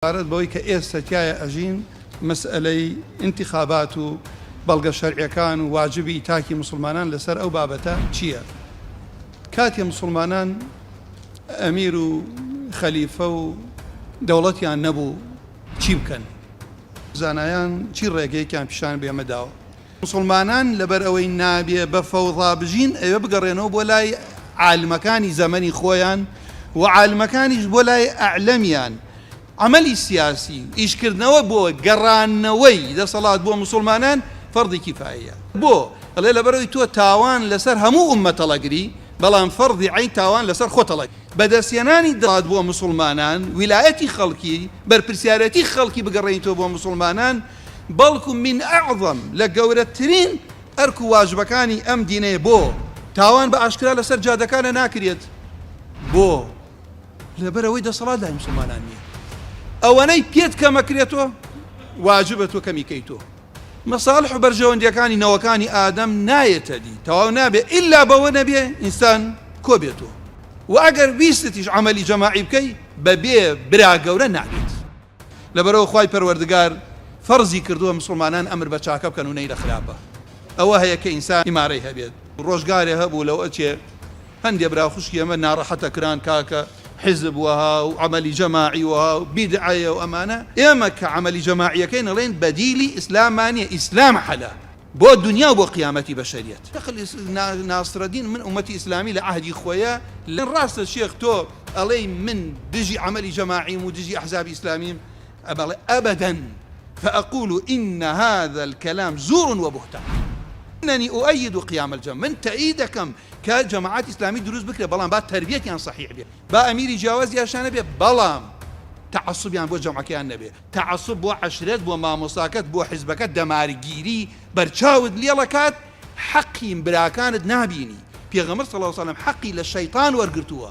سەبارەت بەوەی کە ئێستە تیایا ئەژین مەسئەلەی ئینتخابات و بەڵگە شەرعیەکان و واجبی تاکی موسڵمانان لەسەر ئەو بابەتە چییە کاتێ موسڵمانان ئەمیر و خەلیفە و دەوڵەتیان نەبوو چی بکەن؟ زانایان چی ڕێگەیەکیان پیشان بێمە داوە؟ موسڵمانان لەبەر ئەوەی نابێ بە فەوضا بژین ئەوێ بگەڕێنەوە بۆ لای عالمەکانی زەمەنی خۆیان و عالمەکانیش بۆ لای ئەعلەمیان عەمەلی سیاسی و ئیشکردنەوە بۆ گەڕانەوەی دەسەڵات بۆ موسڵمانان فەرضی کیفایەیە بۆ؟ ئەڵێ لەبەرەوەی تۆ تاوان لەسەر هەموو ئوممە تەڵەگری بەڵام فەرضی عەین تاوان لەسەر خۆ تەڵەگری. بەدەستهێنانی دەسەڵات بۆ موسڵمانان ویلایەتی خەڵکی بەرپرسیارێتی خەڵکی بگەڕێنیتەوە بۆ موسڵمانان بەڵکو من اعظم لە گەورەترین ئەرک و واجبەکانی ئەم دینەیە بۆ؟ تاوان بە ئاشکرا لەسەر جادەکانە ناکرێت بۆ؟ لەبەر ئەوەی دەسەڵات لای مسلمانان نییە ئەوەنەی پێت کەمە کرێتۆ واجبە تۆ کەمی کەی تۆ مەساڵح و بەرژەوەندیەکانی نەوەکانی ئادەم نایەتە دی تەواو نابێ ئللا بەوە نەبێ ئینسان کۆبێتۆ و ئەگەر ویستتیش عملی جەماعی بکەی بەبێ برا گەورە نابێت. لەبەرئەوە خوای پەروەردگار فەرزی کردووە مسوڵمانان ئەمر بە چاکە بکەن و نەی لە خراپە. ئەوە هەیە کە ئینسان ئیمارەی هەبێت. ڕۆژگارێ هەبوو لەو ئەچێ هەندێ برا خوشکی ئەمە ناڕەحەتە کران کاکە حیزب وەها و عەمەلی جەماعی وەها و بیدعەیە و ئەمانە. ئێمە کە عەمەلی جەماعیەکەین ئەڵێین بەدیلی ئیسلاممان نیە ئیسلام حەلە. بۆ دونیا و بۆ قیامەتی بەشەریەت. شێخ ناسرەدین من ئومەتی ئیسلامی لە عەهدی خۆیە لە. ڕاستە شێخ تۆ ئەڵێی من دژی عەمەلی جەماعیم و دژی ئەحزابی ئیسلامیم ئەبڵێ ئەبدا فاقول ان هذا الکلام زور و بهتان اننی اؤید قیام الجماعە من تەئید دەکەم کە جەماعەتی ئیسلامی دروست بکرێ بەڵام با تەربیەتیان سەحیح بێ با ئەمیری جیاوازیاشان نەبێ بەڵام تەعەسوبیان بۆ جەماعەکەیان نەبێ. تەعەسوب بۆ عەشرەت بۆ مامۆستاکەت بۆ حزبەکەت دەمارگیری بەرچاوت لێڵ ئەکات حەقی براکانت نابینی پێغەمبەر صلی اللە علیە وسلم حەقی لە شەیتان وەرگرتووە